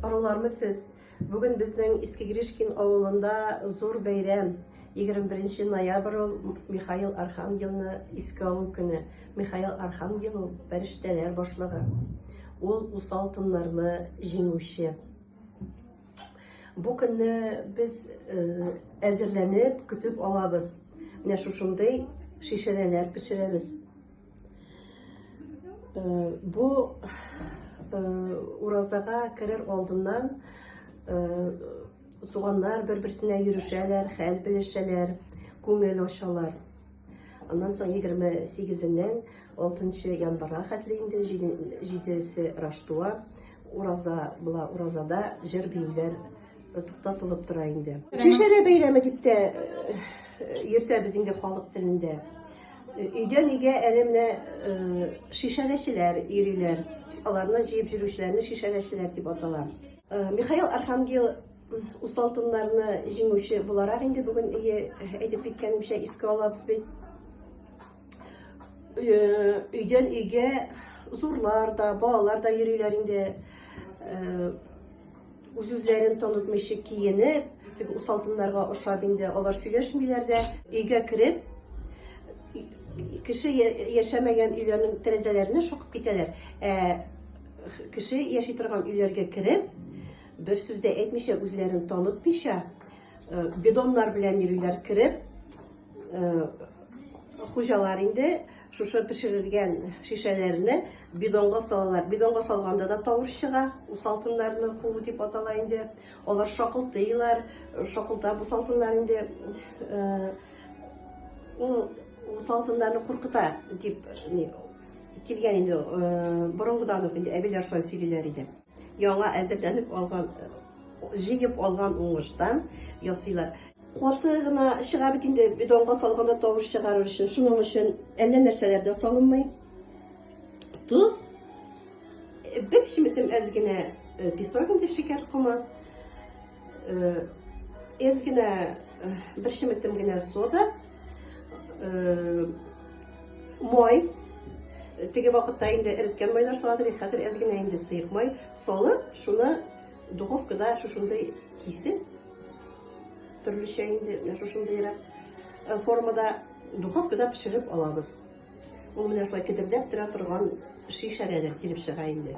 Арулармы сез? Бүген безнең Иске Гришкин авылында зур бәйрәм. 21 ноябрь ул Михаил Архангелны искә алу көне. Михаил Архангел ул фәрештәләр башлыгы. Ул усал тыннарны җиңүче. Бу көнне без э, әзерләнеп, көтеп алабыз. Менә шушындый шешәләр пешерәбез. Э, бу э, уразага керер алдыннан э, туганнар бер берсенә йөрешәләр хәл белешәләр күңел ачалар аннан соң егерме сигезеннән алтынчы январга хәтле инде җидесе раштуа ураза була уразада җыр биюләр туктатылып тора инде шешәле бәйрәме дип тә йөртәбез инде халык телендә Өйдән өйгә әле менә э, шешәләчеләр йөриләр. Аларны җыеп йөрүчеләрне шешәләчеләр дип атала. Э, Михаил Архангел усал тыннарны җиңүче буларак инде бүген өе әйтеп киткәнемчә искә алабыз бит. Э, өйдән өйгә зурлар да, балалар да йөриләр инде. Үз-үзләрен танытмыйча киенеп, теге усалтыннарга ошап инде алар сөйләшмиләр дә. Өйгә кереп, кеше яшәмәгән өйләрнең тәрәзәләренә шакып китәләр. Ә кеше яши торган өйләргә кереп, бер сүз дә әйтмичә, үзләрен танытмыйча, э, бидоннар белән йөриләр кереп, э, хуҗалар инде Шушы пешерелгән шешәләрне бидонга салалар. Бидонга салганда да тавыш чыга. Бу салкыннарны куу дип атала инде. Алар шакылтыйлар, шакылта бу салкыннар инде. Ул салкыннарны куркыта дип килгән инде. Борынгыдан ук инде әбиләр шулай сөйлиләр иде. Яңа әзерләнеп алган, җыеп алган уңыштан ясыйлар. Каты гына чыга бит инде, бидонга салганда тавыш чыгарыр өчен. Шуның өчен әллә нәрсәләр дә салынмый. Тоз, бер чеметем әз генә песок инде шикәр комы. Әз генә бер шеметем генә сода, май, теге вакытта инде эреткән майлар саладыр, хәзер әз генә инде сыек май салып, шуны духовкада шушындай кисеп, төрлечә инде шушындайрак э, формада духовкада пешереп алабыз. Ул менә шулай кедердәп тора торган шешәләр килеп чыга инде.